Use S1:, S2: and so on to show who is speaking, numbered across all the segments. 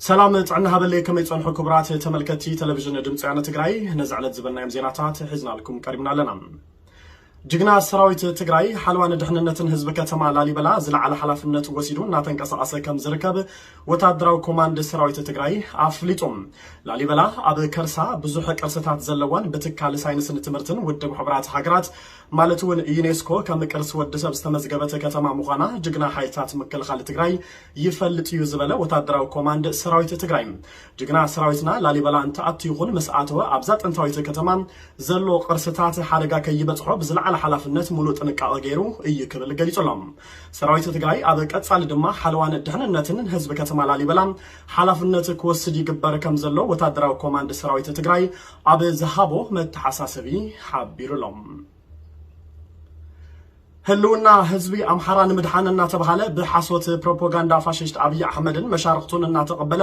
S1: ሰላም ጥዕና ሃበለይ ከመይ ጸንሑ ክቡራት ተመልከቲ ተለቪዥን ድምፂ ወያነ ትግራይ ነዚ ዕለት ዝበልናዮም ዜናታት ሒዝናልኩም ቀሪብና ኣለና። ጅግና ሰራዊት ትግራይ ሓለዋ ንድሕንነትን ህዝቢ ከተማ ላሊበላ ዝለዓለ ሓላፍነት ወሲዱ እናተንቀሳቐሰ ከም ዝርከብ ወታደራዊ ኮማንድ ሰራዊት ትግራይ ኣፍሊጡ። ላሊበላ ኣብ ከርሳ ብዙሕ ቅርስታት ዘለዋን ብትካል ሳይንስን ትምህርትን ውድብ ሕቡራት ሃገራት ማለት እውን ዩኔስኮ ከም ቅርሲ ወዲ ሰብ ዝተመዝገበት ከተማ ምዃና ጅግና ሓይልታት ምክልኻል ትግራይ ይፈልጥ እዩ ዝበለ ወታደራዊ ኮማንድ ሰራዊት ትግራይ ጅግና ሰራዊትና ላሊበላ እንትኣቱ ይኹን ምስ ኣተወ ኣብዛ ጥንታዊት ከተማ ዘሎ ቅርስታት ሓደጋ ከይበፅሖ ብዝለዓለ ሓላፍነት ሙሉእ ጥንቃቐ ገይሩ እዩ ክብል ገሊፁ ኣሎ። ሰራዊት ትግራይ ኣብ ቀፃሊ ድማ ሓለዋን ድሕንነትን ህዝቢ ከተማ ላሊበላ ሓላፍነት ክወስድ ይግበር ከምዘሎ ወታደራዊ ኮማንድ ሰራዊት ትግራይ ኣብ ዝሃቦ መተሓሳሰቢ ሓቢሩ'ሎ። ህልውና ህዝቢ ኣምሓራ ንምድሓን እናተብሃለ ብሓሶት ፕሮፖጋንዳ ፋሽስት ኣብይ ኣሕመድን መሻርኽቱን እናተቐበለ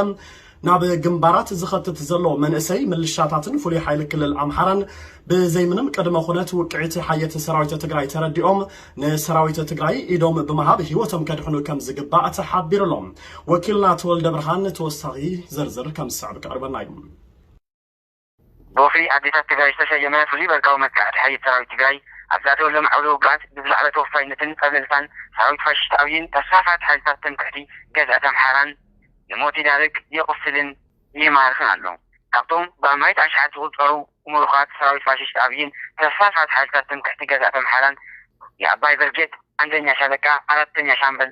S1: ናብ ግንባራት ዝኸትት ዘሎ መንእሰይ ምልሻታትን ፍሉይ ሓይሊ ክልል ኣምሓራን ብዘይምንም ቅድመ ኩነት ውቅዒት ሓየት ሰራዊት ትግራይ ተረዲኦም ንሰራዊት ትግራይ ኢዶም ብምሃብ ህይወቶም ከድሕኑ ከም ዝግባእ ተሓቢሩሎም ወኪልና ተወልደ ብርሃን ተወሳኺ ዝርዝር ከም ዝስዕብ ከቕርበልና እዩ። ብወፍሪ
S2: ኣዴታት ትግራይ ዝተሰየመ ፍሉይ በርቃዊ መጥቃዕቲ ሓይልት ሰራዊት ትግራይ ኣብ ዝኣተወሎም ዓውደ ውግኣት ብዝለዓለ ተወፋይነትን ጸብለልታን ሰራዊት ፋሽስት ኣብይን ተስፋፋት ሓይልታት ትምክሕቲ ገዝኣት ኣምሓራን ንሞት ይዳርግ፣ የቑስልን ይማርኽን ኣሎ። ካብቶም ብኣማኢት ኣሽሓት ዝቑጸሩ ሙሩኻት ሰራዊት ፋሽስት ኣብይን ተስፋፋት ሓይልታት ትምክሕቲ ገዝኣት ኣምሓራን የኣባይ ብርጌድ ኣንደኛ ሻለቃ ኣራተኛ ሻምበል፣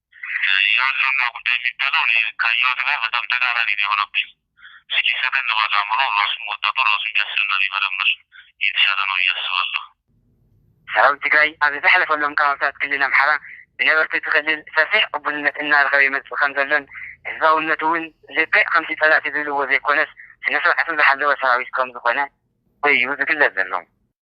S3: የህልውና ጉዳይ የሚባለው እኔ ካየሁት ጋር በጣም ተቃራኒ ነው የሆነብኝ እስኪ ሰከን ባለ አእምሮ ራሱን ወጣቱ ራሱን ቢያስብና ቢመረምር የተሻለ ነው ብዬ አስባለሁ። ሰራዊት
S2: ትግራይ ኣብ ዝሓለፈሎም ከባብታት ክልል ኣምሓራ ብነበርቲ እቲ ክልል ሰፊሕ ቅቡልነት እናረኸበ ይመፅእ ከምዘሎን ህዝባውነቱ እውን ልክዕ ከምቲ ፀላእቲ ዝብልዎ ዘይኮነስ ስነስርዓቱ ዝሓለወ ሰራዊት ከምዝኾነ እዩ ዝግለፅ ዘሎ።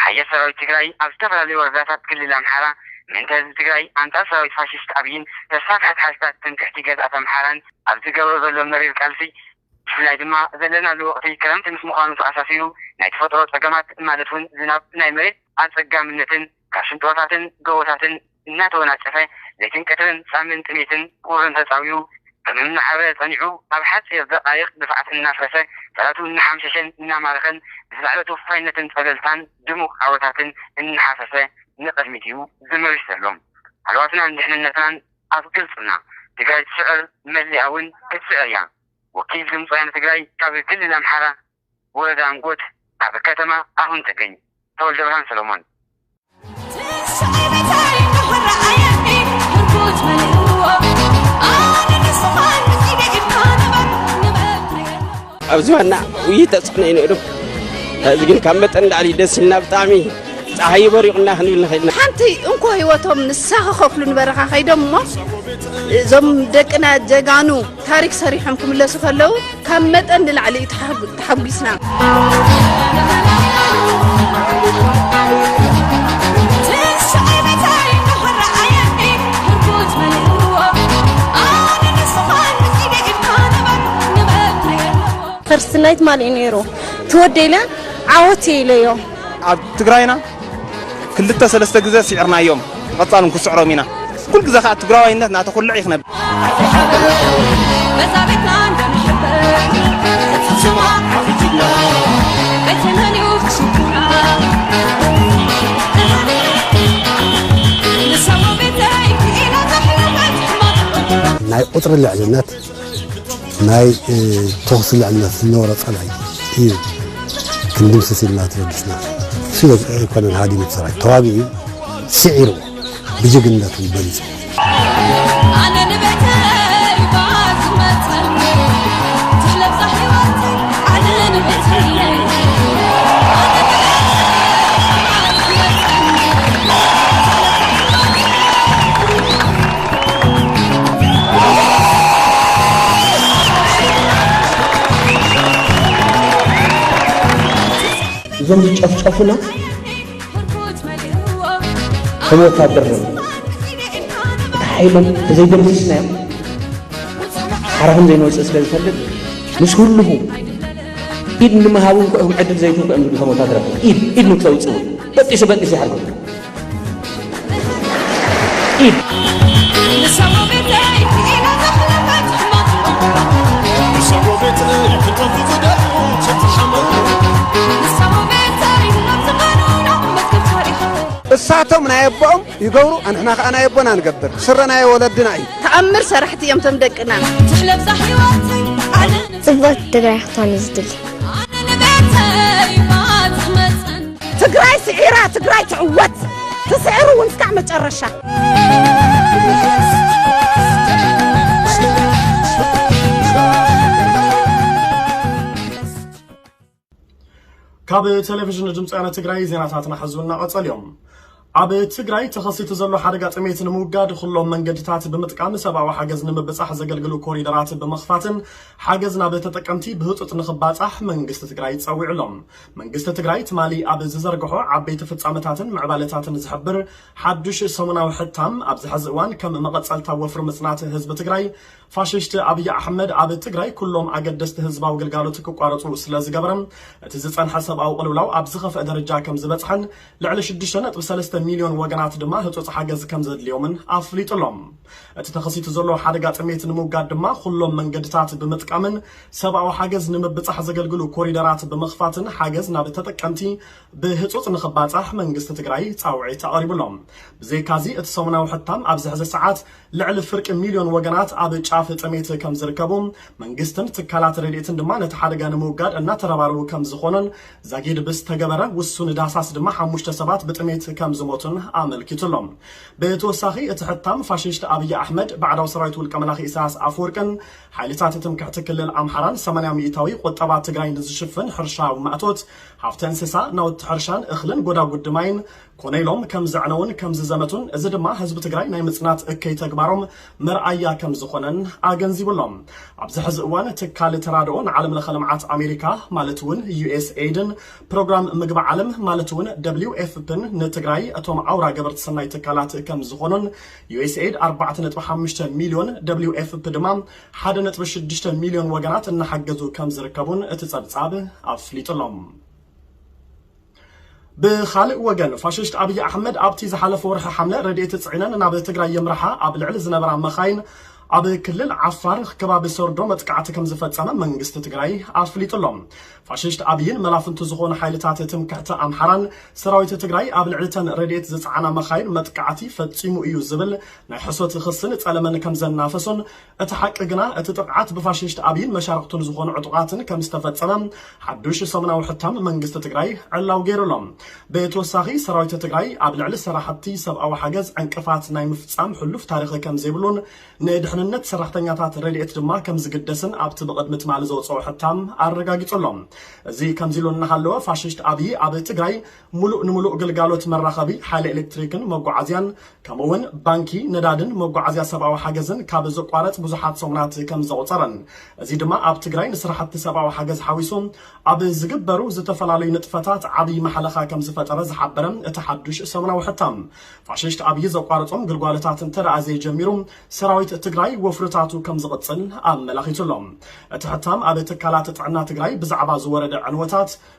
S3: ሓይሊ
S2: ሰራዊት ትግራይ ኣብ ዝተፈላለዩ ወረዳታት ክልል ኣምሓራ ምእንተ ህዝቢ ትግራይ ኣንፃር ሰራዊት ፋሽስት ኣብይን ተስፋፍሐት ሓይልታት ትምክሕቲ ገዝኣት ኣምሓራን ኣብ ዝገብሮ ዘሎ መሪር ቃልሲ ብፍላይ ድማ ዘለናሉ ወቕቲ ክረምቲ ምስ ምዃኑ ተኣሳሲሩ ናይ ተፈጥሮ ፀገማት ማለት ውን ዝናብ፣ ናይ መሬት ኣፀጋምነትን፣ ካብ ሽንጥሮታትን ጎቦታትን እናተወናጨፈ ለይትን ቀትርን ጻምን ጥሜትን ቁርን ተጻዊኡ ከም እናዓረረ ጸኒዑ ኣብ ሓጺር ደቓይቕ ድፋዓት እናፍረሰ ጠላቱ እናሓምሸሸን እናማረኸን ብዝለዓለ ተወፋይነትን ጸብለልታን ድሙቕ ዓወታትን እናሓፈሰ ንቕድሚት'ዩ ዘመርሽ ዘሎ። ሃለዋትናን ድሕንነትናን ኣብ ግልጽና! ትግራይ ትስዕር መሊኣ ውን ክትስዕር እያ! ወኪል ድምፂ ወያነ ትግራይ ካብ ክልል ኣምሓራ ወዛንጎት ኣብ ከተማ ኣሁን ትግኝ ተወልደብርሃን
S4: ሰሎሞን። ኣብዚ ዋና ውይይት ተፅዕኖ እዩ ነይሩ እዚ ግን ካብ መጠን ንላዕሊ ደስ ኢልና ብጣዕሚ ፀሓይ በሪቑና ክንብል ንኽእል ኢና ሓንቲ እንኮ ህይወቶም
S5: ንሳ ክኸፍሉ ንበረኻ ከይዶም እሞ እዞም ደቅና ጀጋኑ ታሪክ ሰሪሖም ክምለሱ ከለው ካብ መጠን ንላዕሊ እዩ ተሓጒስና።
S6: ፈርስት ናይት ማሊእ ነይሩ ትወደኢለ ዓወት ኢለዮ ኣብ ትግራይና
S4: ክልተ ሰለስተ ግዘ ሲዕርናዮም ብቀፃሉ ንክስዕሮም ኢና ኩሉ ግዘ ከዓ ትግራዋይነት ናተኩልዕ እዩ ክነብ
S7: ናይ ቁፅሪ ልዕልነት ናይ ተኹሲ ልዕልነት ዝነበሮ ጸላኢ እዩ ክንድምስስ ኢልና ተበጊስና ስለ ኣይኮነን ሃዲሙ ሰራዊት ተዋጊኡ ስዒርዎ ብጅግንነት እውን በሊጹ
S4: እዞም ዝጨፍጨፉና ከም ወታደር ነ እቲ ሓይሎም ተዘይደምሲስናዮም ሓራ ከም ዘይንወፅእ ስለ ዝፈልጥ ምስ ህልኹ ኢድ ንምሃብ እንኮ እዮም ዕድል ዘይትንኮ እዮም ዝብሉ ከም ወታደራት ኢድ ኢድ ንክተውፅኡ በጢሱ በጢሱ ይሓርጉ
S7: እሳቶም ናይ ኣቦኦም ይገብሩ ኣንሕና ከዓ ናይ ኣቦና ንገብር ስረ ናይ ወለድና እዩ ተኣምር ሰራሕቲ እዮም
S5: ቶም ደቅና ጽብቕቲ
S6: ትግራይ ክትኾን እዩ ዝድሊ
S5: ትግራይ ስዒራ ትግራይ ትዕወት ትስዕር እውን እስካዕ መጨረሻ።
S1: ካብ ቴሌቭዥን ድምፂ ወያነ ትግራይ ዜናታትና ሕዚ እናቐፀሉ እዮም። ኣብ ትግራይ ተኸሲቱ ዘሎ ሓደጋ ጥሜት ንምውጋድ ኹሎም መንገድታት ብምጥቃም ሰብኣዊ ሓገዝ ንምብፃሕ ዘገልግሉ ኮሪደራት ብምኽፋትን ሓገዝ ናብ ተጠቀምቲ ብህፁፅ ንኽባፃሕ መንግስቲ ትግራይ ፀዊዑ ኣሎ። መንግስቲ ትግራይ ትማሊ ኣብ ዝዘርገሖ ዓበይቲ ፍፃመታትን ምዕባለታትን ዝሕብር ሓዱሽ ሰሙናዊ ሕታም ኣብዚ ሐዚ እዋን ከም መቐፀልታ ወፍሪ ምፅናት ህዝቢ ትግራይ ፋሽሽቲ ኣብይ ኣሕመድ ኣብ ትግራይ ኩሎም ኣገደስቲ ህዝባዊ ግልጋሎት ክቋረፁ ስለዝገበረ እቲ ዝፀንሐ ሰብኣዊ ቅልውላው ኣብ ዝኸፍአ ደረጃ ከምዝበፅሐን ልዕሊ ሽዱሽተ ነጥቢ ሰለስተ ሚልዮን ወገናት ድማ ህጹጽ ሓገዝ ከም ዘድልዮምን ኣፍሊጡ ኣሎ። እቲ ተኸሲቱ ዘሎ ሓደጋ ጥሜት ንምውጋድ ድማ ኹሎም መንገድታት ብምጥቃምን ሰብኣዊ ሓገዝ ንምብጻሕ ዘገልግሉ ኮሪደራት ብምኽፋትን ሓገዝ ናብ ተጠቀምቲ ብህጹጽ ንኽባጻሕ መንግስቲ ትግራይ ጻውዒት ኣቕሪቡ ኣሎ። ብዘይካ'ዚ እቲ ሰሙናዊ ሕታም ኣብዚ ሕዚ ሰዓት ልዕሊ ፍርቂ ሚልዮን ወገናት ኣብ ጫፍ ጥሜት ከም ዝርከቡ፣ መንግስትን ትካላት ረድኤትን ድማ ነቲ ሓደጋ ንምውጋድ እናተረባረቡ ከም ዝኾኑን ዛጊድ ብዝተገበረ ውሱን ዳህሳስ ድማ ሓሙሽተ ሰባት ብጥሜት ከም ዝሞቱን ኣመልኪቱ ኣሎ። ብተወሳኺ እቲ ሕታም ፋሽሽት ኣብይ ኣሕመድ፣ ባዕዳዊ ሰራዊት ውልቀ መላኺ ኢሳያስ ኣፈወርቅን ሓይልታት ትምክሕቲ ክልል ኣምሓራን ሰማንያ ሚኢታዊ ቁጠባ ትግራይ ንዝሽፍን ሕርሻዊ ማእቶት፣ ሃፍተ እንስሳ፣ ናውቲ ሕርሻን እኽልን ጎዳጉዲ ማይን ኮነ ኢሎም ከም ዘዕነዉን ከም ዝዘመቱን እዚ ድማ ህዝቢ ትግራይ ናይ ምፅናት እከይ ተግባሮም መርኣያ ከም ዝኾነን ኣገንዚቡ ኣሎ። ኣብዚ ሕዚ እዋን ትካል ተራድኦ ንዓለም ለኸ ልምዓት ኣሜሪካ ማለት እውን ዩኤስኤይድን ፕሮግራም ምግቢ ዓለም ማለት እውን ደብሊው ኤፍፕን ንትግራይ እቶም ኣውራ ገበርቲ ሰናይ ትካላት ከም ዝኾኑን ዩኤስኤይድ ኣርባዕተ ነጥቢ ሓሙሽተ ሚልዮን ደብሊው ኤፍፕ ድማ ሓደ ነጥቢ ሽዱሽተ ሚልዮን ወገናት እናሓገዙ ከም ዝርከቡን እቲ ፀብፃብ ኣፍሊጡ ኣሎ። ብኻልእ ወገን ፋሽስት ኣብይ ኣሕመድ ኣብቲ ዝሓለፈ ወርሒ ሓምለ ረድኤት ፅዒነን ናብ ትግራይ የምርሓ ኣብ ልዕሊ ዝነበራ መኻይን ኣብ ክልል ዓፋር ከባቢ ሰርዶ መጥቃዕቲ ከም ዝፈፀመ መንግስቲ ትግራይ ኣፍሊጡ ኣሎ። ፋሽስት ኣብይን መላፍንቱ ዝኾኑ ሓይልታት ትምክሕቲ ኣምሓራን ሰራዊት ትግራይ ኣብ ልዕሊ ተን ረድኤት ዝፀዓና መኻይን መጥቃዕቲ ፈፂሙ እዩ ዝብል ናይ ሕሶት ኽስን ፀለመን ከም ዘናፈሱን እቲ ሓቂ ግና እቲ ጥቕዓት ብፋሽሽት ኣብይን መሻርኽቱን ዝኾኑ ዕጡቓትን ከም ዝተፈፀመ ሓዱሽ ሰሙናዊ ሕታም መንግስቲ ትግራይ ዕላዊ ገይሩ ኣሎ። ብተወሳኺ ሰራዊት ትግራይ ኣብ ልዕሊ ሰራሕቲ ሰብኣዊ ሓገዝ ዕንቅፋት ናይ ምፍፃም ሕሉፍ ታሪኽ ከም ዘይብሉን ንድሕንነት ሰራሕተኛታት ረድኤት ድማ ከም ዝግደስን ኣብቲ ብቕድሚ ትማሊ ዘውፀኦ ሕታም ኣረጋጊፁ ኣሎ። እዚ ከምዚ ኢሉ እናሃለወ ፋሽሽት ኣብይ ኣብ ትግራይ ሙሉእ ንሙሉእ ግልጋሎት መራኸቢ ሓይሊ ኤሌክትሪክን መጓዓዝያን ከምኡ እውን ባንኪ፣ ነዳድን መጓዓዝያ ሰብኣዊ ሓገዝን ካብ ዝቋረፅ ብዙሓት ሰሙናት ከም ዘቑፀረን እዚ ድማ ኣብ ትግራይ ንስራሕቲ ሰብኣዊ ሓገዝ ሓዊሱ ኣብ ዝግበሩ ዝተፈላለዩ ንጥፈታት ዓብዪ ማሕለኻ ከም ዝፈጠረ ዝሓበረ እቲ ሓዱሽ ሰሙናዊ ሕታም ፋሽሽት ኣብዪ ዘቋርፆም ግልጓሎታት እንተደኣ ዘይጀሚሩ ሰራዊት ትግራይ ወፍርታቱ ከም ዝቕፅል ኣመላኺቱ ኣሎ። እቲ ሕታም ኣብ ትካላት ጥዕና ትግራይ ብዛዕባ ዝወረደ ዕንወታት፣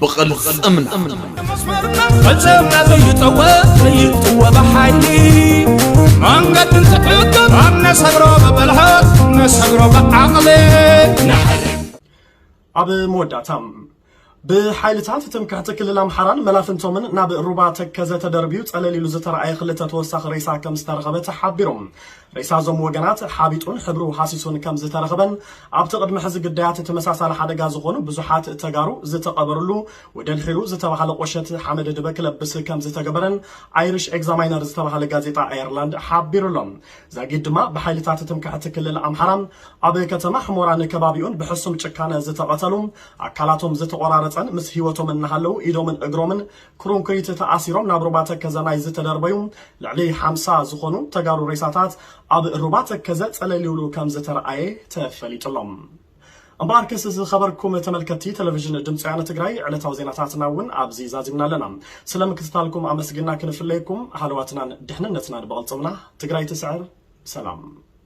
S8: ብቕልፅምና ፈፀምና ዘይጠወ ዘይጥወ ብሓይሊ መንገዲ እንትሕግም ኣብ ነሰግሮ ብብልሓት ነሰግሮ ብዓቕሊ ኣብ መወዳእታ ብሓይልታት ትምክሕቲ ክልል ኣምሓራን መላፍንቶምን ናብ ሩባ ተከዘ ተደርብዩ ፀለል ኢሉ ዝተረኣየ ክልተ ተወሳኺ ሬሳ ከም ዝተረኸበ ተሓቢሩ ሬሳ እዞም ወገናት ሓቢጡን ሕብሩ ሃሲሱን ከም ዝተረኽበን ኣብቲ ቅድሚ ሕዚ ግዳያት ተመሳሳሊ ሓደጋ ዝኾኑ ብዙሓት ተጋሩ ዝተቐበርሉ ወደልሒሩ ዝተባሃለ ቖሸት ሓመደ ድበ ክለብስ ከም ዝተገበረን ኣይሪሽ ኤግዛማይነር ዝተባሃለ ጋዜጣ ኣየርላንድ ሓቢሩ ኣሎ። ዛጊድ ድማ ብሓይልታት ትምክሕቲ ክልል ኣምሓራ ኣብ ከተማ ሕሞራን ከባቢኡን ብሕሱም ጭካነ ዝተቐተሉ ኣካላቶም ዝተቖራረፀን ምስ ህይወቶም እናሃለዉ ኢዶምን እግሮምን ክሮንክሪት ተኣሲሮም ናብ ሩባ ተከዘ ናይ ዝተደርበዩ ልዕሊ ሓምሳ ዝኾኑ ተጋሩ ሬሳታት ኣብ ሩባ ተከዘ ፀለሊውሉ ከምዝተርኣየ ተፈሊጡ ኣሎ። እምበኣርከስ ዝኸበርኩም ተመልከትቲ ተለቪዥን ድምፂ ወያነ ትግራይ ዕለታዊ ዜናታትና እውን ኣብዚ ዛዚምና ኣለና። ስለ ምክትታልኩም ኣመስጊንና ክንፍለየኩም ሃለዋትናን ድሕንነትናን ብቕልፅምና። ትግራይ ትስዕር! ሰላም!